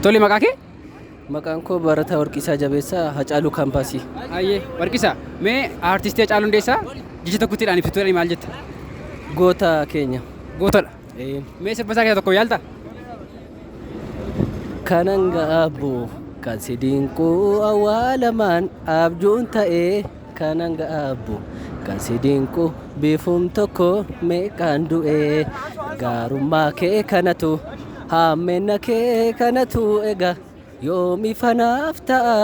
Tole maqaa kee? Maqaan koo Barataa Warqisaa Jabeessaa Hacaaluu Kaampaasii. Ayyee Warqisaa mee aartistii Hacaaluu Hundeessaa jecha tokkotti dhaan ibsitu jedhanii maal jetta? Goota keenya. Gootadha. Ee. Mee sirba isaa keessaa tokko yaalta? Kanan ga'aabbu kan si dinquu awwaalamaan abjuun ta'ee. Kanan gaabbu kan si dinqu biifum tokko meeqaan du'e gaarummaa kee kanatu haammenna kee kanatu ega yoomi fanaaf ta'a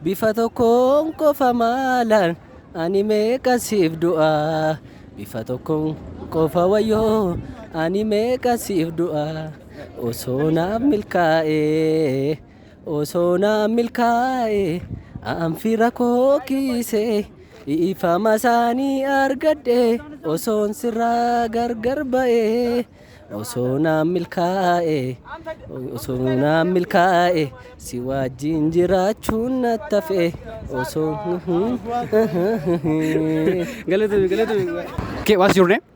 bifa tokkoon qofa maalaan ani meeqan siif du'a bifa tokkoon qofa wayyoo ani meeqan siif du'a osoo naaf milkaa'ee Osoo naa milkaa'e an fira koo kiise dhiifama isaanii argadhe osoon sirraa gargar ba'e osoo naa milkaa'e osoo naa milkaa'e si wajjin jiraachuun na tafe osoo Galatoomi, galatoomi. Okay, what's your name?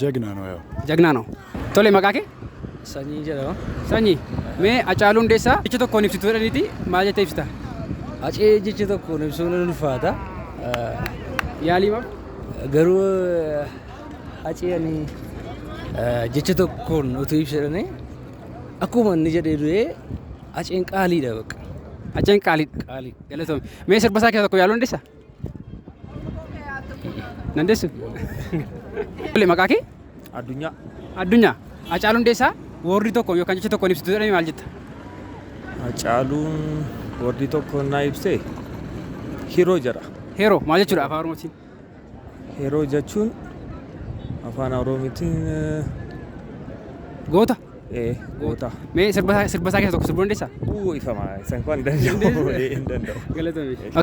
Jagnaa noo yaa. Jagnaa noo. Tole maqaa kee? Sanyii jedhama. Sanyii. Mee Hacaaluu Hundeessaa jecha tokkoon ibsitu jedhaniiti maal jettee ibsita? Hacee jecha tokkoon ibsuun ni ulfaata. Yaalii moo? Garuu hacee ani jecha tokkoon utuu ibsa jedhanii akkuma inni jedhee du'ee haceen qaaliidha bakka. Haceen qaaliidha. Qaalii. Galatoome. Mee sirba isaa keessaa tokko yaaluu dandeessaa? Dandeessu? Tole maqaa kee? Addunyaa. Addunyaa. Hacaaluu Hundeessaa woordii tokko yookaan jecha tokkoon ibsitu jedhame maal jetta? Hacaaluun woordii tokko naa ibsee hiroo jedha. Heeroo maal jechuudha afaan Oromootiin? Hiroo jechuun afaan Oromootiin eh, Goota. eh, goota. Mee sirba isaa sirba isaa keessaa tokko sirbuu dandeessaa? Uu ifama isa hin danda'u. Hin danda'u. Galatoomi.